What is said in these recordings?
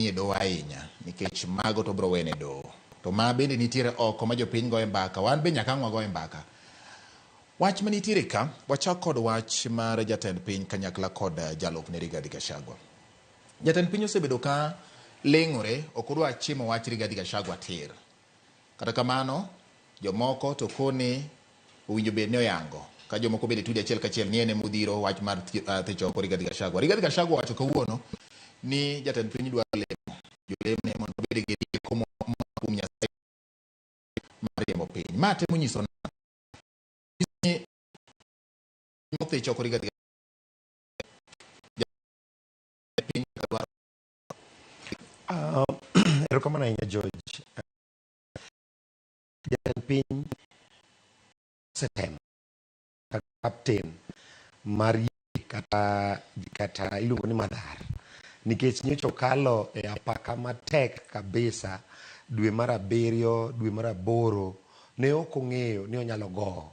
nie doho ahinya nikech mago to bro wene doho to ma bende nitiere oko ma jopiny goye mbaka wan be nyaka ang' wagoye mbaka wach ma nitiere ka wachak kod wach mar jatend piny kanyakla kod eh, jalupne Rigathi Gachagua jatend piny osebedo ka leng'ore ok odwa chimo wach Rigathi Gachagua tir Kata kamano, jomoko to koni owinjo bed ni oyango ka jomoko bende tudi achiel kachiel ni en ema odhiro wach mar ah, thich oko Rigathi Gachagua. Rigathi Gachagua owacho kawuono ni jatend piny dwaro lemo jolemo ne mondo obed gi rieko moa kuom Nyasaye mar riembo piny. Ma temo nyiso na ni thich oko Rigathi Gachagua piny dwaro Uh, erokamano ahinya George. Jatend piny osetemo captain mar yie kata kata iluongo ni madhar nikech nyocha okalo e apaka matek kabisa dwe mar abiriyo dwe mar aboro ne ok ong'eyo ni onyalo gowo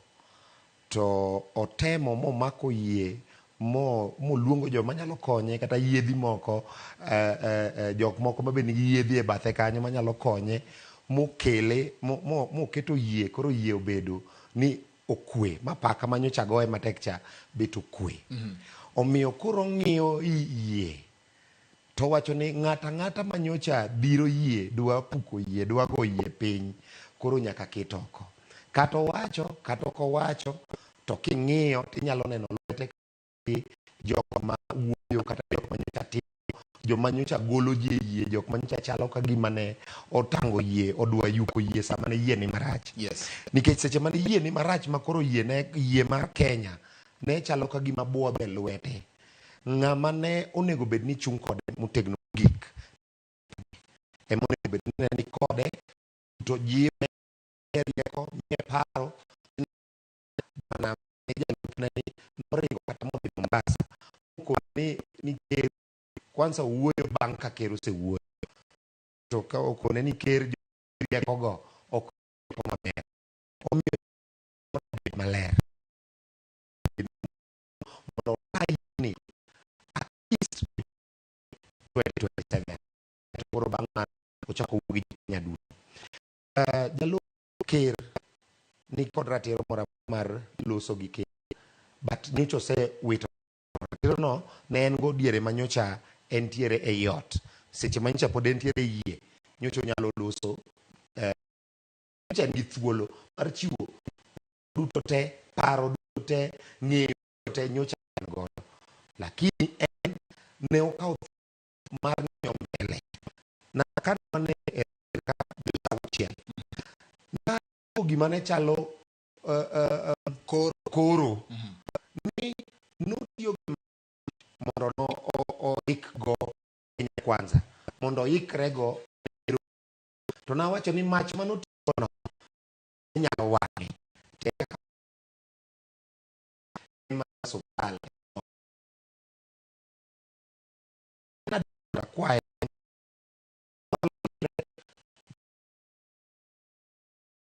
To otemo momako yie mo moluongo joma nyalo konye kata yiedhi moko eh, eh, eh, jok moko ma be nigi yiedhi e bathe kanyo manyalo konye mokele mo- mo- moketo yie koro yie obedo ni okwe ma paka ma nyocha goye matek cha bet okwe omiyo koro ong'iyo i- yie To wacho ni ng'ato ang'ata ma nyocha biro yie dwa puko yie dwa go yie piny koro nyaka ket oko. Kata owacho kata ok owacho to king'iyo to inyalo neno lwete gi jok ma wuoyo kata jok ma nyocha timo, jok ma nyocha golo ji e yie, jok ma nyocha chalo ka gima ne otango yie, odwa yuko yie sama ne yie ni marach. Yes. Nikech seche mane yie ni marach ma koro yie ne yie mar Kenya ne chalo ka gima buodho e lwete. Ng'ama ne onego bed ni chung' kode motegno mogik ema onego bed ni ni kode to jiwe e rieko miye paro bana jalupne ni noringo kata modhi Mombasa mokone ni ni ker kwanza wuoyo bang' ka ker osewuoyo to ka okone ni ker riekogo ok rieko maber omiyo bed maler mondo wayni at least 2027 to koro bang' mano ochako wuo gi Kenya duto. Uh, Jalup Ker ni kod ratiro moro mar loso gi Ker but nyocha osewito ratirono ne en go diere ma nyocha entiere ei ot seche ma nyocha pod entiere yie nyocha onyalo loso eh, nyocha en gi thuolo mar chiwo duto te, paro duto te, ng'eyo duto te nyocha en godo. Lakini en ne okawo mar ng'iyo mbele. Na kane wane e ka dweche auchiel, na gima ne chalo uh, uh, uh, koro, koro. Mm -hmm. ni notiyo gi mondo no oikgo Kenya Kwanza mondo oikrego to nawacho ni mach manotiyono nyalo wang'e to eka ka en mar osuptal akwaye